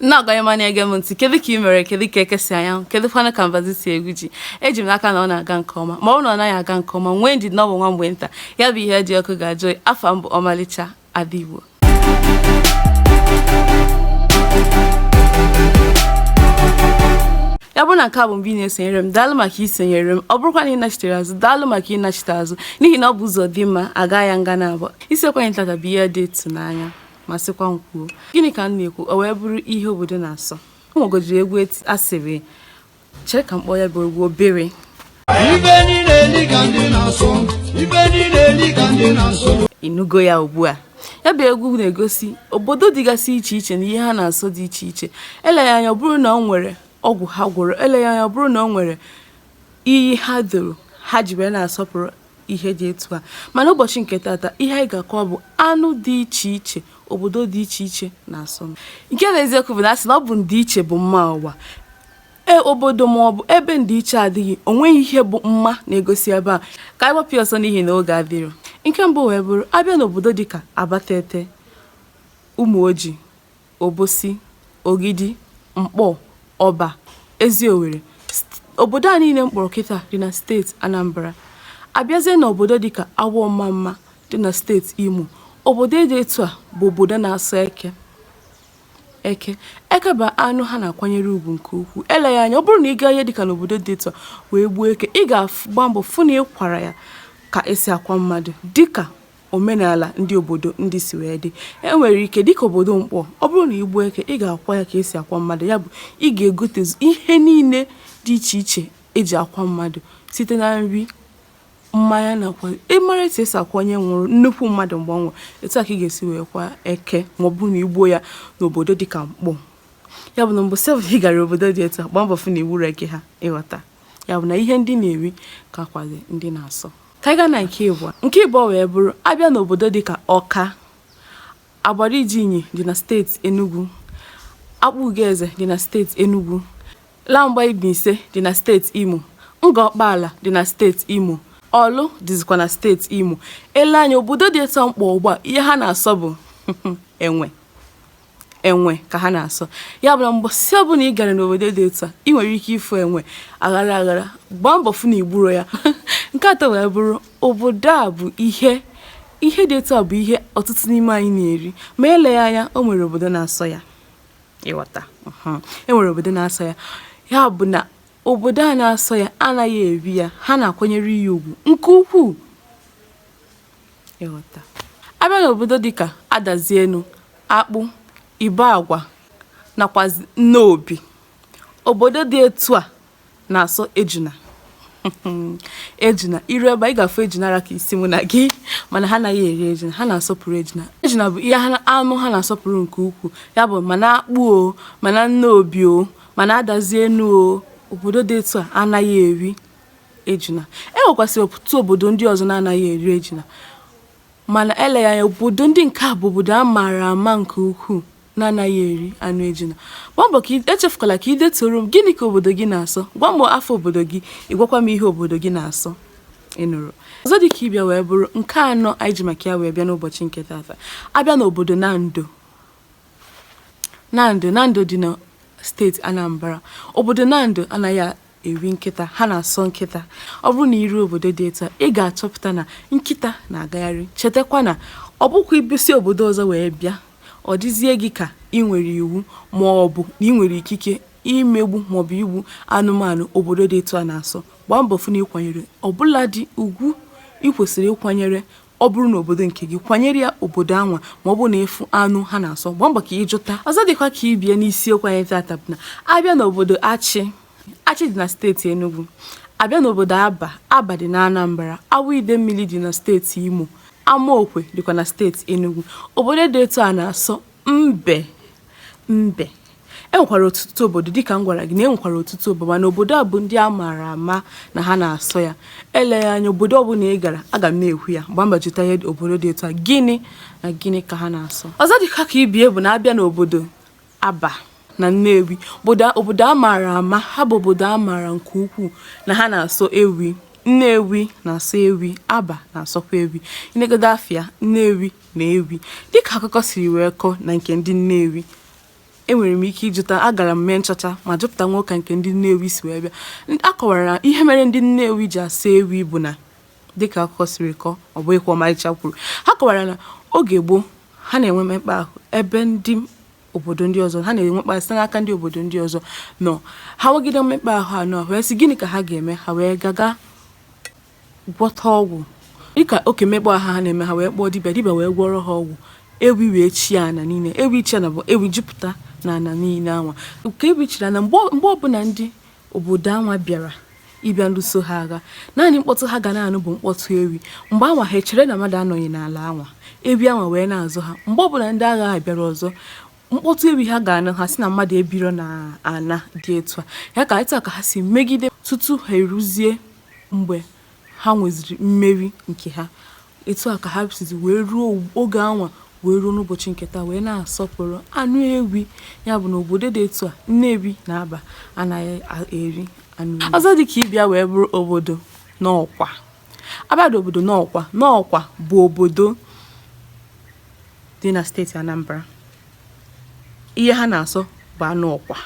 na-agwa ịma na-ege m ntị kedu ka ị mere kedu ka eke si anya anwụ kedu kwanụ ka mbazụ si egwu ji eji m n'aka na ọ na-aga nke ọma ma ọ bụrụ na ọ naghị aga nke ọma nwee ndidi na ọ bụ nwa mgbe nta ya bụ ihe dị ọkụ ga-ajụ oyi afa m bụ Ọmalịcha Ada Igbo ya bụrụ na nke a bụ mbụ ị na-esonyere m daalụ maka isonyere m ọ bụrụkwa na ị nachitere azụ daalụ maka ịnachite azụ n'ihi na ọ bụ ụzọ dị mma a gaa ya nga na abụọ isiokwu anyị tata bụ ihe dị ịtụnanya ma sịkwa m kwuo gịnị ka m na-ekwu o wee bụrụ ihe obodo na-asọ o nwegodiri egwu a sịrị chere ka m kpọọ ya bụ egwu obere Ife ndị na-eli ka ndị na-asọ, ife ndị na-eli ka ndị na-asọ. ị nụgo ya ugbu a ya bụ egwu na-egosi obodo dịgasị iche iche na ihe ha na-asọ dị iche iche eleghị anya ọ bụrụ na ọ nwere ọgwụ ha gwọrọ eleghị anya ọ bụrụ na ọ nwere iyi ha doro ha ji wee na-asọpụrụ ihe dị etu a mana ụbọchị nke tata ihe anyị ga-akọwa bụ anụ dị iche iche obodo dị iche iche na-asọ nke bụ eziokwu bụ na a sị na ọ bụ ndịiche bụ mma ụwa obodo ma ọ bụ ebe ndịiche adịghị o nweghị ihe bụ mma na-egosi ebe a ka anyị gbapụ ọsọ n'ihi na oge adịrọ nke mbụ wee bụrụ a bịa n'obodo dịka Abatete Ụmụoji Obosi, Ogidi, Nkpor, Oba, Eziowelle. Obodo a niile m kpọrọ kịta dị na steeti Anambra. A bịazie n'obodo dịka Awọ-Ọmamma dị na steeti Imo, obodo dị etu a bụ obodo na-asọ eke. Eke eke bụ anụ ha na-akwanyere ugwu nke ukwuu. Eleghị anya, ọ bụrụ na ị gaa ihe dịka n'obodo dị etu a wee gbuo eke, ị ga-agba mbọ fụ na ị kwara ya ka e si akwa mmadụ dịka omenala ndị obodo ndị si wee dị e nwere ike dịka obodo Nkpor ọ bụrụ na i gbuo eke ị ga-akwa ya ka e si akwa mmadụ ya bụ ị ga-egotezu ihe niile dị iche iche e ji akwa mmadụ site na nri mmanya nakwa ị mara etu e si akwa onye nwụrụ nnukwu mmadụ mgbe ọ nwụrụ etu a ka ị ga-esi wee kwa eke ma ọ bụrụ na i gbuo ya n'obodo dịka Nkpor ya bụ na mgbe sef ị gara obodo dị etu a gbaa mbọ fụ na i gburo eke ha ị ghọta ya bụ na ihe ndị na-eri kakwa ndị na-asọ Ka anyị gaa na nke ịbụọ. Nke ịbụọ wee bụrụ a bịa n'obodo dịka Ọka, Agbariji Inyi dị na steeti Enugwu, Akpugoeze dị na steeti Enugwu, Lagwa Mbaise dị na steeti Imo, Ngọ Ọkpaala dị na steeti Imo, Ọlụ dịzikwa na steeti Imo. Ele anya obodo dị etu a m kpọ ugbu a ihe ha na-asọ bụ enwe. enwe ka ha na-asọ ya bụ na mbọsị ọbụla ị gara n'obodo dị etu a ị nwere ike ịfụ enwe aghara aghara gbaa mbọ fụ na i gburo ya nke atọ wee bụrụ obodo a bụ ihe ihe dị etu a bụ ihe ọtụtụ n'ime anyị na-eri ma eleghị anya o nwere obodo na-asọ ya ị ghọta e nwere obodo na-asọ ya ya bụ na obodo a na-asọ ya anaghị eri ya ha na-akwanyere ya ugwu nke ukwuu ịghọta. A bịa n'obodo dịka Adazienu, Akpụ, Ibeagwa nakwa Nnobi, obodo dị etu a na-asọ ejuna. ejuna i ru ebe a ị ga-afụ ejuna ra ka isi mụ na gị mana ha anaghị eri ejuna ha na-asọpụrụ ejuna ejuna bụ ihe anụ ha na-asọpụrụ nke ukwuu ya bụ ma na Akpụ o ma na Nnobi o ma na Adazienu o obodo dị etu a anaghị eri ejuna. E nwekwasịrị ọtụtụ obodo ndị ọzọ na-anaghị eri ejuna. Mana eleghị anya obodo ndị nke a bụ obodo a maara ama nke ukwuu na-anaghị eri anụ ejuna. Gbaa mbọ ka ị- echefukwala ka ị detuoro m gịnị ka obodo gị na-asọ. Gwa m afa obodo gị, ị gwakwa m ihe obodo gị na-asọ. Ị nụrụ? Ọzọ dị ka ibe ya wee bụrụ nke anọ anyị ji maka ya wee bịa n'ụbọchị nke tata. A bịa n'obodo Nando. Nando Nando dị na steeti Anambra. Obodo Nando anaghị a- eri nkịta ha na-asọ nkịta ọ bụrụ na i ru obodo dị etu a ị ga-achọpụta na nkịta na-agagharị chetakwa na ọ bụkwa ibisi obodo ọzọ wee bịa ọ dịzie gị ka ị nwere iwu ma ọ bụ na ị nwere ikike imegbu maọbụ igbu anụmanụ obodo dị etu a na-asọ gbaa mbọ fụ na ị kwanyere ọbụladị ugwu ị kwesịrị ịkwanyere ọ bụrụ na obodo nke gị kwanyere ya obodo anwa ma ọ bụ na ị fụ anụ ha na-asọ gbaa mbọ ka ị jụta ọzọ dịkwa ka ibe ya n'isiokwu anyị tata bụ na a bịa n'obodo Achị Achị dị na steeti Enugu a bịa n'obodo Aba Aba dị na Anambra Awọ Idemmili dị na steeti Imo Amaokwe dịkwa na steeti Enugu obodo dị etu a na-asọ Mbe mbe e nwekwara ọtụtụ obodo dịka m gwara gị na e nwekwara ọtụtụ obodo mana obodo a bụ ndị a maara ama na ha na-asọ ya eleghị anya obodo ọbụla ị gara aga m na-ekwu ya gbaa mbọ jụta ihe obodo dị etu a gịnị na gịnị ka ha na-asọ ọzọ dịkwa ka ibe ya bụ na a bịa n'obodo Aba na Nnewi obodo obodo a maara ama ha bụ obodo a maara nke ukwuu na ha na-asọ ewi Nnewi na-asọ ewi Aba na-asọkwa ewi i negodo afa ya Nnewi Nne ewi. Dịka akụkọ siri wee kọọ na nke ndị Nnewi, e nwere m ike ịjụta, agara m mee nchọcha ma jụpụta nnọọ ka nke ndị Nnewi si wee bịa. A kọwara na ihe mere ndị Nnewi ji asọ ewi bụ na dịka akụkọ siri kọọ, ọ bụghịkwa Ọmarịcha kwuru, ha kọwara na oge gboo, ha na-enwe mmekpa ahụ ebe ndị obodo ndị ọzọ, ha na-enwekpa ahụ site n'aka ndị obodo ndị ọzọ nọ. Ha nwegide mmekpa ahụ a nọ, ha wee sị gịnị ka ha ga-eme? Ha wee gaa ga gwọta ọgwụ dịka oke mmekpa ahụ ha na-eme ha wee kpọọ dibịa dibịa wee gwọrọ ha ọgwụ ewi wee chie ana niile ewi chi ana bụ ewi jupụta na ana niile anwa nke ewi chiri ana mgbe mgbe ọbụla ndị obodo anwa bịara ịbịa lụso ha agha naanị mkpọtụ ha ga na-anụ bụ mkpọtụ ewi mgbe anwa ha echere na mmadụ anọghị n'ala anwa ewi anwa wee na-azọ ha mgbe ọbụla ndị agha a bịara ọzọ mkpọtụ ewi ha ga-anụ ha sị na mmadụ ebiro na ana dị etu a ya ka etu a ka ha si megide tutu ha eruzie mgbe ha nweziri mmeri nke ha etu a ka ha sizi wee ruo oge anwa wee ruo n'ụbọchị nke taa wee na-asọpụrụ anụ ewi ya bụ na obodo dị etu a Nnewi na Aba anaghị eri anụ ewi ọzọ dị ka ibe ya wee bụrụ obodo Nnọkwa a bịa obodo Nnọkwa Nnọkwa bụ obodo dị na steeti Anambra ihe ha na-asọ bụ anụ ọkwa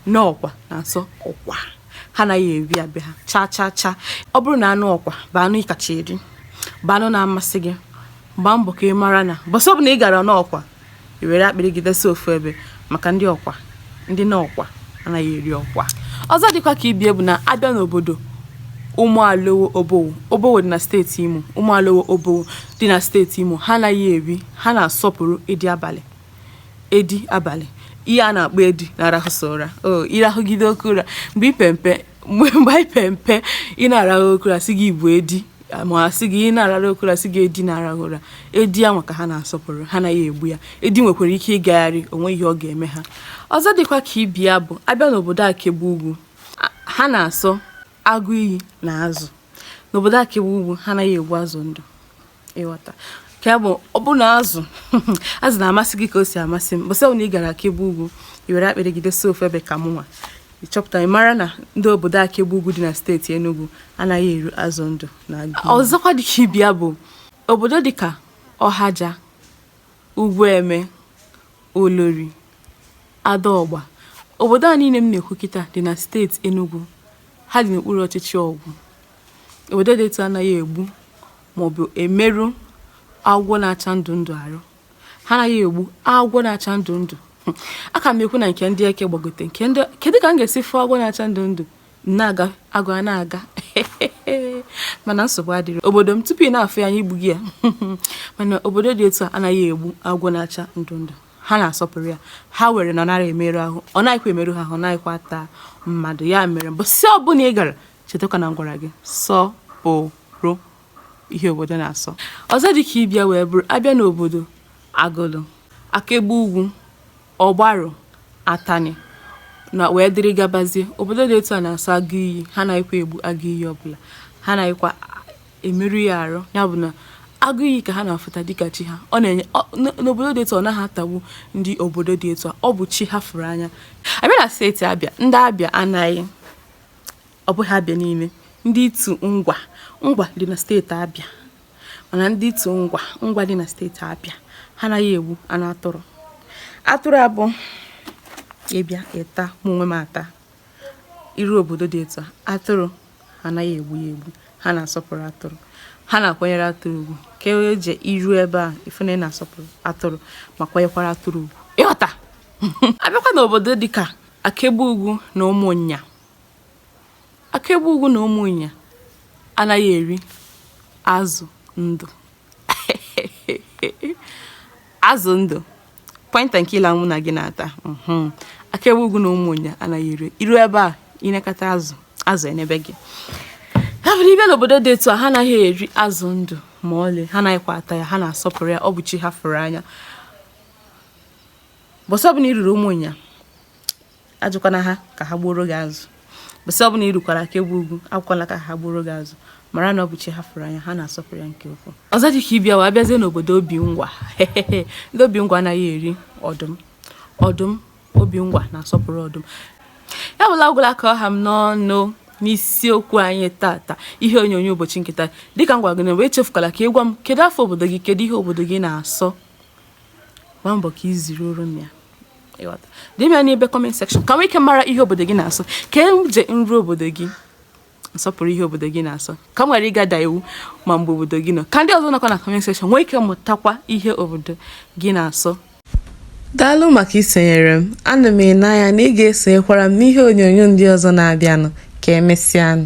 Nnọkwa na-asọ ọkwa ha anaghị eri ya be ha cha cha cha ọ bụrụ na anụ ọkwa bụ anụ ị kacha eri bụ anụ na-amasị gị gbaa mbọ ka ị mara na mbọsị ọbụna ị gara Nnọkwa i were akpịrị gị dosa ofu ebe maka ndị ọkwa ndị Nnọkwa anaghị eri ọkwa ọzọ dịkwa ka ibe ya bụ na a bịa n'obodo ụmụalowo obowo obowo dị na steeti imo ụmụalowo obowo dị na steeti imo ha anaghị eri ha na-asọpụrụ edi abalị edi abalị ihe a na-akpọ edi na-arahụsa ụra o ị rahụgide oke ụra mgbe i pe mpe mgbe mgbe anyị pere mpe ị na-arahụ oke ụra a sị gị ị bụ edi ma a sị gị ị na-ararụ oke ụra a sị gị edi na-arahụ ụra edi anwa ka ha na-asọpụrụ ha anaghị egbu ya edi nwekwara ike ịgagharị o nweghị ihe ọ ga-eme ha ọzọ dịkwa ka ibe ya bụ a bịa n'obodo Akegbe Ugwu ha na-asọ agụ iyi na azụ n'obodo Akegbe Ugwu ha anaghị egbu azụ ndụ ị ghọta ka ya bụ ọ bụ na azụ azụ na-amasị gị ka o si amasị m mbọsị ọbụna ị gara Akegbe Ugwu i were akpịrị gị dosa ofu ebe ka mụnwa ị chọpụta ị mara na ndị obodo Akegbe Ugwu dị na steeti Enugu anaghị eri azụ ndụ na ọzọkwa dị ka ibe ya bụ obodo dịka Ọhaja Ugwueme Olori Adọgba obodo a niile m na-ekwu kịta dị na steeti Enugu ha dị n'okpuru ọchịchị Ọgwụ Obodo dị etu a anaghị egbu maọbụ emerụ agwọ na-acha ndụ ndụ arụ. Ha anaghị egbu agwọ na-acha ndụ ndụ. A ka m ekwu na nke ndị eke gbagote nke ndị kedu ka m ga-esi fụ agwọ na-acha ndụ ndụ na-aga agụ a na-aga mana nsogbu adịrọ obodo m tupu ị na-afụ ya anyị egbugo ya mana obodo dị etu a anaghị egbu agwọ na-acha ndụ ndụ ha na-asọpụrụ ya ha were na ọ narọ emerụ ahụ ọ naghịkwa emerụ ha ahụ ọ naghịkwa ata mmadụ ya mere mbọsị ọbụla ị gara Chetakwa na m gwara gị sọọrọ ihe obodo na-asọ. Ọzọ dị ka ibe ya wee bụrụ a bịa n'obodo Agụlụ, Akegbe Ugwu, Ọgbarụ, Atani na wee dịrị gabazie. Obodo dị etu a na-asọ agụ iyi, ha anaghịkwa egbu agụ iyi ọbụla, ha anaghịkwa emerụ ya arụ. Ya bụ na agụ iyi ka ha na-afụta dịka chi ha. Ọ na-enye ọ- n- n'obodo dị etu a, ọ naghị atagbu ndị obodo dị etu a, ọ bụ chi ha fụrụ anya. A bịa na steeti Abịa, ndị Abịa anaghị Ọ bụghị Abịa niile. Ndị Itu Ngwa, Ngwa dị na steeti Abịa. Mana ndị Itu Ngwa, Ngwa dị na steeti Abịa, ha anaghị egbu anụ atụrụ. Atụrụ a bụ ị bịa ị ta mụ onwe m ata i ru obodo dị etu a atụrụ anaghị egbu ya egbu ha na-asọpụrụ atụrụ ha na-akwanyere atụrụ ugwu ka e je i ru ebe a ị fụ na ị na-asọpụrụ atụrụ ma kwanyekwara atụrụ ugwu ị ghọta a bịakwa n'obodo dịka Akegbe Ugwu na Ụmụnnya Akegbe Ugwu na Ụmụnnya anaghị eri azụ ndụ. Azụ ndụ point and kill mụ na gị na-ata mhm. Akegbe Ugwu na Ụmụnnya anaghị eri i ru ebe a i nekata azụ azụ enebe gị ya bụrụ ị bịa n'obodo dị etu a ha anaghị eri azụ ndụ ma ọlị ha anaghịkwa ata ya ha na-asọpụrụ ya ọ bụ chi ha fụrụ anya bọsị ọbụla i ruru Ụmụnnya ajụkwana ha ka ha gbuoro gị azụ bọsị ọbụla i rukwara Akegbe Ugwu ekwukwala ka ha gbuoro gị azụ mara na ọ bụ chi ha fụrụ anya ha na-asọpụrụ ya nke ukwuu ọzọ dị ka ibe ya a bịazie n'obodo Obingwa ndị Obingwa anaghị eri ọdụm ọdụm Obingwa na-asọpụrụ ọdụm ya bụ na ọ gwụla ka ọ ha m n'ọnụ n'isiokwu anyị tata ihe onyonyo ụbọchị nke taa dịka m gwara gị na mbụ echefukwala ka ị gwa m kedu afa obodo gị kedu ihe obodo gị na-asọ gbaa mbọ ka ị ziruoro m ya ị ghọta deere m ya n'ebe comment section ka m nwee ike mara ihe obodo gị na-asọ ka e je m ru obodo gị m sọpụrụ ihe obodo gị na-asọ ka m ghara ịga da iwu ma m jee obodo gị nọ ka ndị ọzọ nọkwa na comment section nwee ike mụtakwa ihe obodo gị na-asọ daalụ maka isonyere m ana m ene anya na ị ga-esonyekwara m n'ihe onyonyo ndị ọzọ na-abịanụ ka emesịanụ